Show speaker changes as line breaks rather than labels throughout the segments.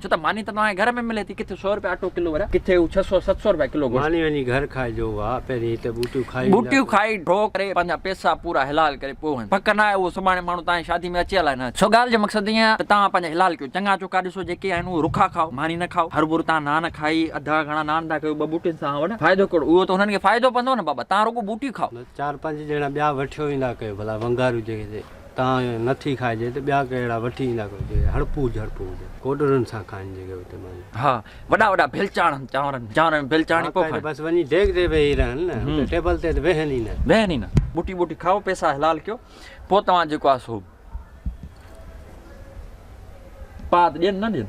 ڇو ته ماني ته توهان کي گهر ۾ ملي ٿي، ڪٿي سؤ رپيه اٽو ڪلو وري ڪٿي هو ڇهه سؤ ست سؤ رپيه ڪلو گوشت. ماني وڃي گهر کائجو
وا پهرين هتي ٻوٽيون کائي اينداسين. ٻوٽيون کائي ڍو ڪري
پنهنجا پيسا پورا حلال ڪري پوء وڃ. پڪ ناهي اهو سڀاڻي ماڻهو تهان جي شادي ۾ اچي الاء نه اچي. سو ڳالهه جو مقصد ائين آهي ته توهان پنهنجا حلال ڪيو چڱا چوکا ڏسو جيڪي آهن اهي رکا کائو ماني نه کائو هر ڀور تان نان کائي اڌا گهڻا نان ٿا ڪيو ٻه ٻوٽين سان وڏا فائدو ڪهڙو اهو ته انهن کي فائدو پوندو نه بابا تان رڳو ٻوٽي کائو. چار پنج ڄڻا ٻيا
وٺيو ويندا ڪيو ڀلا ونگاريون جيڪي تان نه ٿي کائجي ته ٻيا ڪهڙا وٺي ايندا ڪو جي هڙپو جهڙپو هجي ڪوڏرن سان کائن جيڪي اتي مانجهن. ها وڏا
وڏا ڀيل چاڙهن چانورن چانورن ۾ ڀيل چاڙهي پوء کائن. بس وڃي ڊيگهه تي ويهي
رهن نه اتي ٽيبل تي ته ويهن ئي نه. ويهن ئي نه ٻوٽي ٻوٽي کائو پيسا
حلال ڪيو پوء توهان جيڪو آهي سو پاد ڏين نه ڏين.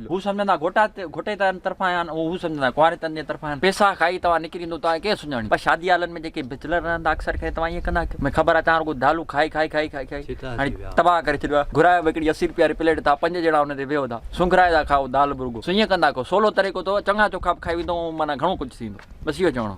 هو سمجهندا گهوٽا گهوٽي تن طرفان آيا آهن، هو سمجهندا ڪنواري تن جي طرفان آيا آهن. پيسا کائي توهان نڪري ويندو توهان کي ڪير سڃاڻيندو. پر شادي هالن ۾ جيڪي بيچلر رهندا اڪثر ڪري توهان ائين ڪندا ڪيو. مون کي خبر آهي توهان رڳو دالون کائي کائي کائي کائي کائي هاڻي تباهه ڪري ڇڏيو آهي. گهرايو به هڪڙي اسي روپيه واري پليٽ ٿا پنج ڄڻا ان تي ويهو ٿا سونگهرائي ٿا کائو دال به رڳو سو ائين ڪندا ڪيو سولو طريقو اٿو چڱا چوکا به کائي ويندو ۽ معنيٰ گهڻو ڪجهه ٿي ويندو. بس اهو چوڻو هو.